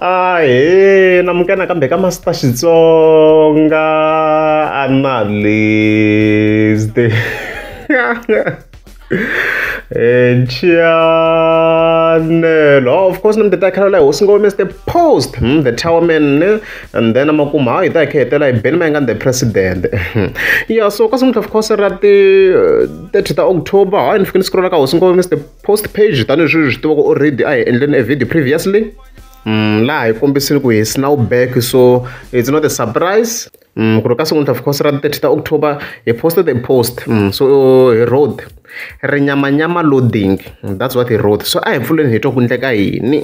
ahe namuke nakambe ka masita xitsonga analyst Chianel. Oh, of course, namdeta khala hosi ngome is the post, hmm, the tower man, eh? and then amakuma hayi ta khetela ibeni mayinga the president. yeah, so kasimuthu of course ra ti 30 ta October, hayi ni fike ni scrolla ka hosi ngome is the post page tanihileswi hi swi tivaka already a hi endleni a video previously mm, laha hi kombisile ku hi snow back so it's not a surprise mm, ku ri ka sekuntlha of course ra 30 ta october hi posted a post mm, so hi road ri nyamanyama loading that's what hi road so a hi pfuleni hi twa ku ndleka yini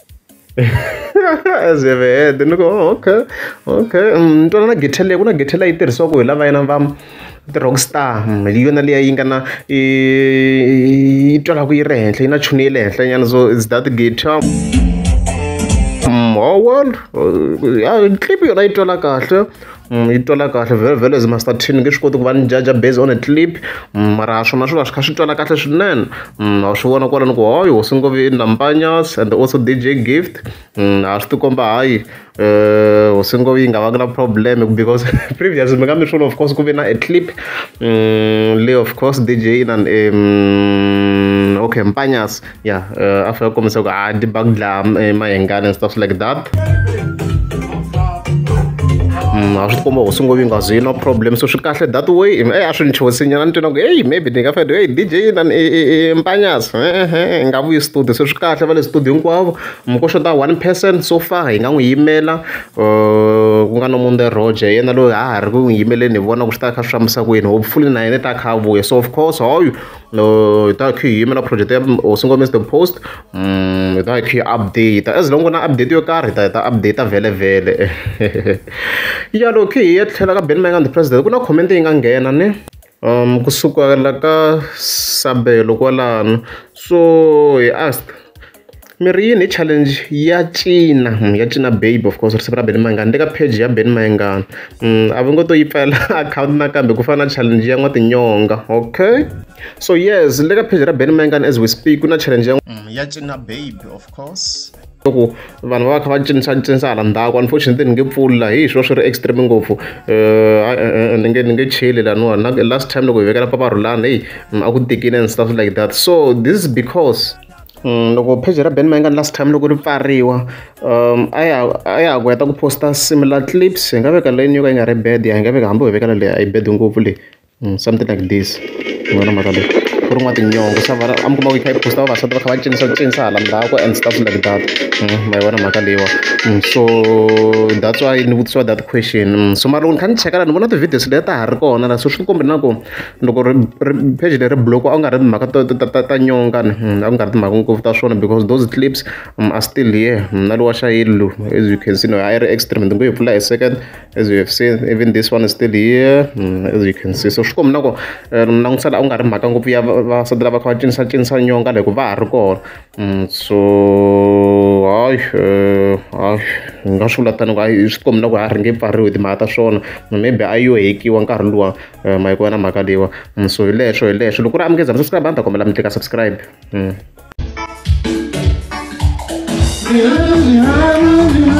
as you have heard ni ku oh, okay okay mm, ni twana na githe leyi ku na githe leyi tirhisiwaka hi lava yena va ti-rock star mm, hi yona liya yi nga na yi twalaku yi ri henhla yi na chuni ya le henhla nyana so is that guitar mm, oh well ya clip yona yi twala kahle yi twala kahle very very as master ten nge swi koti ku va ni judge based on a clip mara swona swi va swi kha swi twala kahle swinene wa swi vona kwala ni ku hoyo hosi ngo vi nambanyas and also dj gift a swi tikomba hayi um hosi ngo yi nga va na problem because previous mi nga mi swona of course ku ve na a clip le of course dj inan um okay mpanyas ya uh, after kombisa ku a ti bagdla eh, mayengana and stuff like that mm, a swi komba hosi ngo yi nga zwi no problem so swi kahle that way ey eh, a swi ni chosinyana ni twina ku eyi maybe ni nga fede eyi dj nan mpanyas hi nga vuyi studio so swi kahle va le studio hinkwavo mko xota one person so far hi nga n'wi yimela uh, ku nga no munde roger yena loyi ha ha ri ku n'wi yimeleni hi vona ku swi ta kha swi fambisa ku yini hopefully na yena ta kha vuya so of course hoyu no hi ta khe hi yimela project ya hosi ngomesi the post um hi ta khe hi update as long ku na update yo karhi hi ta hi ta update vhele vhele ya loko khe hi ya tlhela ka ben mangan the president ku na comment yi nga nghena ni um kusukela ka sabelo kwalano so hi asked Mi ri yini hi challenge ya cina ya cina baby of course risimu ra Benny Mayengani ni le ka page ya Benny Mayengani a va ngo to yi pfala akhawunti nakambe ku fana na challenge ya n'wa tinyonga okay so yes ni le ka page ra Benny Mayengani as we speak ku na challenge ya ya cina baby of course loko vanhu va va kha va cinisa cinisa hala ndzhaku unfortunately ni nge pfuli laha hi swo swi ri extreme ngopfu ni nge ni nge cheli laniwani na last time loko hi vekela papa rhulani heyi a ku tikile and stuff like that so this is because. Loko pheji ra Benny Mayengani last time loko ri pfariwa a ya a ya ha ku heta ku post-a similar clips hi nga veka leyini yo ka yi nga ri bad hi nga veka hambi ho vekela leyi a yi bad ngopfu leyi something like this mi vona mhaka leyi ku rin'wa tinyonga swa vona a mi kuma ku yi kha yi post-a vavasati va kha va cinisa ku cinisa hala ndzhaku and stuff like that ma yi vona mhaka leyiwa so that's why ni vutisiwa that question so mara loko ni kha ni cheka la ni vona ti-videos leti ta ha ri kona la so swi komba na ku loko ri ri page leri block a ku nga ri timhaka ta ta ta ta nyonga ni a ku nga ri timhaka ngopfu ta swona because those clips um, are still here mna lowa xayili lowu as you can see no i ri extreme ndzi ngo yi pfula hi second as you have seen even this one is still here um, as you can see so swi komina ku eh, langutisela a ku nga ri mhaka ngopfu ya vasati lava kha va cinisa cinisa nyonga loko va ha ri kona Mm, so hayi eh, hayi ni nga swi vula tani ku hayi swi kombela ku a ri nge pfariwi timhaka ta swona maybe a yo hekiwa nkarhi luwa eh, mayiko ya na mhaka leyiwa mm, so hi leswo hi leswo loko ri amukeza mi subscribe a ni ta kombela mi tlika subscribe mm. Yeah, yeah, yeah.